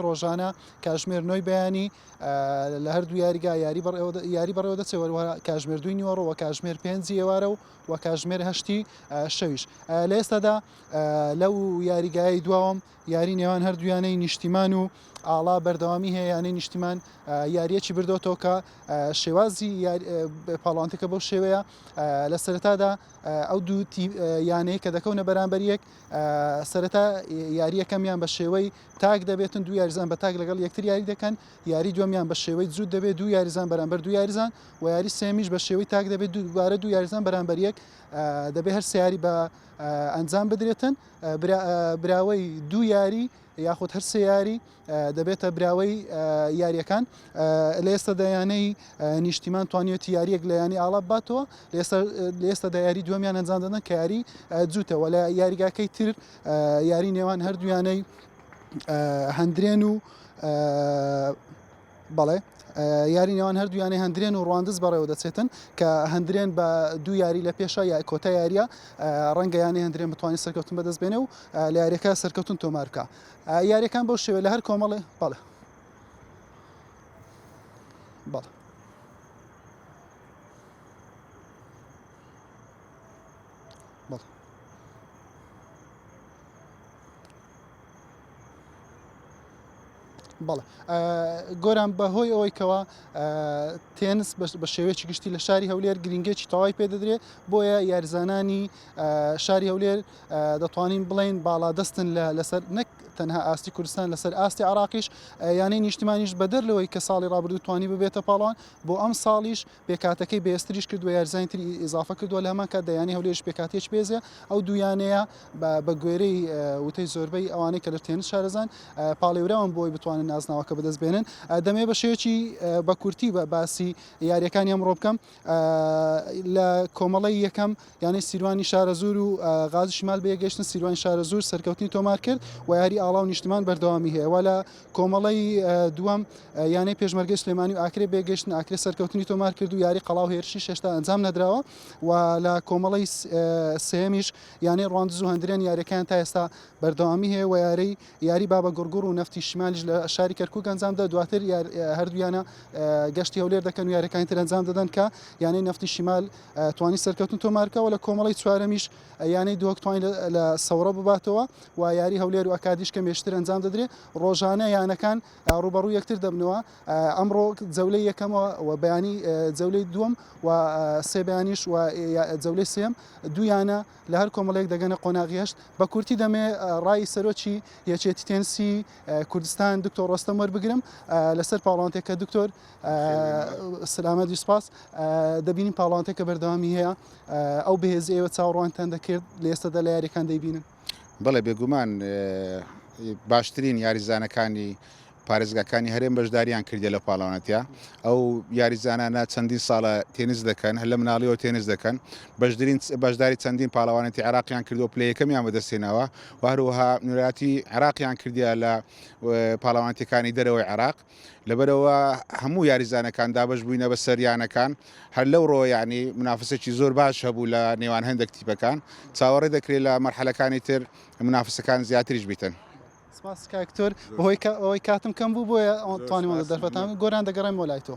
ڕۆژانە کاژمێر نۆی بەیانی لە هەردوو یاریگا یاری یاری بەڕێوە دەچێوەوە کاژمێر دوی نیوەڕەوە کاژمێر پێنجی ئێوارە و و کاژمێر هەشتی شەویش لە ئێستادا لەو یاریگای دواوەم یاری نێوان هەردوویانەی نیشتیمان و ئاڵا بەردەوامی هەیە یانەی نیشتیمان یاریەکی بردۆتەوە کە شێوازی پاڵانتەکە بەو شێوەیە لە سەرتادا ئەو دوو یانەیە کە دەکەونە بەرامبەر یەک سەرەتا یاریەکەمیان بە شێوەی تاک دەبێتن دوو یاریزان بە تاک لەگەڵ یەکتر یاری دەکەن یاری دومیان بە شێوەی جووت دەبێت دوو یاریزان بەرامبەر دوو یاریزان و یاری سێمیش بە شێوەی تاک دەبێت دووبارە دوو یاریزان بەرامبەر یەک دەبێت هەر سیاری بە ئەنجام بدرێتن براوەی دوو یاری یاخود هەر سێ یاری دەبێتە براوەی یاریەکان لە ئێستا دەیانەی نیشتیمان توانیوەتی یاریەک لە ینی ئاڵا باتەوە لە ئێستا دایاری دومیان ئەنجام دەدەن کە یاری جووتەوە لە یاریگاکەی تر یاری نێوان هەردوویانەی هەندرێن و بەڵێ یاری نێوان هەردوویانەی هەندرێن و ڕواندز بەڕێوە دەچێتن کە هەندرێن بە دوو یاری لە پێشە یا کۆتا یاریە ڕەنگەیانی هەندرێن بتوانانی سەرکەوتن بەدەست بێنێ و لە یاریەکە سەرکەوتن تۆمارکە یاریەکان بەو شێوێ لە هەر کۆمەڵێ بەڵێ بەڵێ بەڵێ بەڵێ گۆران بەهۆی ئەوەی کەەوە تێنس بە شێوەیەکی گشتی لە شاری هەولێر گرنگێکی تەواوی پێ دەدرێت بۆیە یارزانانی شاری هەولێر دەتوانین بڵین باڵا دەستن لەسەر نەک تەنها ئاستی کوردستان لەسەر ئاستی عراقیش یانەی نیشتمانیش بەدەر لەوەی کە ساڵی ڕابردوو توانی ببێتە پاڵوان بۆ ئەم ساڵیش پێکهاتەکەی بەهێزتریش کردووە یاریزانانی تری ئیزافە کردووە لە هەمان کاتدا یانەی هەولێریش پێکهاتەیەکی بەهێزە ئەو دوو یانەیە بە گوێرەی وتەی زۆربەی ئەوانەی کە لە تێنس شارەزان پاڵێوراون بۆی بتوانن نازناوەکە بەدەست بێنن دەمێ بە شێوەیەکی بە کورتی بە باسی یاریەکانی ئەمڕۆ بکەم لە کۆمەڵی یەکەم یانەی سیروانی شارەزور و غازی شمال بێگەشتن سیروان شارەزور سەرکەوتنی تۆمار کرد و یاری ئاڵا و نیشتمان بەردەوامی هەیە وە لە کۆمەڵەی دووەم یانەی پێشمەرگەی سلێمانی و ئاکرێ بێگەشتن ئاکرێ سەرکەوتنی تۆمار کرد و یاری قەڵاو هێرشی شێشتا ئەنجام نەدراوە و لە کۆمەڵەی سێمیش یانەی ڕوان زوو هەندرێن یاریەکان تا ئێستا بەردەوامی هەیە و یاری یاری بابە گوڕگوڕ و نفتی شمالیش لە شاری کەرکک گەنجامدا دواتر هەردوویانە گەشتی هەولێر دەکەن و یاریەکانی تر ئەنجام دەدەن کە یانەی نفتی شمال توانی سەرکەوتن تۆمارکەوە لە کۆمەڵی چوارەمیش یانەی دووەکتوانی لە سەورە بباتەوە و یاری هەولێر و ئەکادیش کەمێشتر ئەنجام دەدرێت ڕۆژانە یانەکان ڕوبەڕوو یەکتر دەبنەوە ئەمڕۆ جەولەی یەکەمەوە و بەیانی جەولەی دووەم و سێ بەیانیش و جەولەی سێم دویانە لە هەر کۆمەڵێک دەگەنە قۆناغیشت بە کورتی دەمێ ڕای سەرۆکی یەچێتی تێنسی کوردستان دکتۆر ڕۆستەم وەربگرم لەسەر پاڵانتێکە دکتۆر سلامە دیسپاس دەبینین پاڵانتێکە بەردەوامی هەیە ئەو بەهێزی ئێوە چاوەڕوانتان دەکرد لە ئێستادا لە یاریەکان دەیبینن بەڵێ بێگومان باشترین یاریزانەکانی پارێزگاکانی هەرێم بەشداریان کردی لە پاڵەوانەتە ئەو یاریزانانە چەندین ساڵە تێنس دەکەن هەر لە مناڵیەوە تێنس دەکەن بەشدرین بەشداری چەندین پاڵەوانەتی عراقیان کردو پلی یەکەمیان بەدەستێنەوە وهروەها نوراتی عراقیان کردیا لە پاڵەوانەتەکانی دەرەوەی عراق لەبەرئەوە هەموو یاریزانەکان دابەش بووینە بەسەر یانەکان هەر لەو ڕۆ یعنی منافسێکی زۆر باش هەبوو لە نێوان هەندێک تیپەکان چاوەڕێ دەکرێت لە مەرحەلەکانی تر منافسەکان زیاتریش بیتن سپاسکتۆر بەهۆی ئەوەی کاتم کەم بوو بۆیە ئەوتوانیمەوە دەرفەتان گۆران دەگەڕێمەوە لای تۆ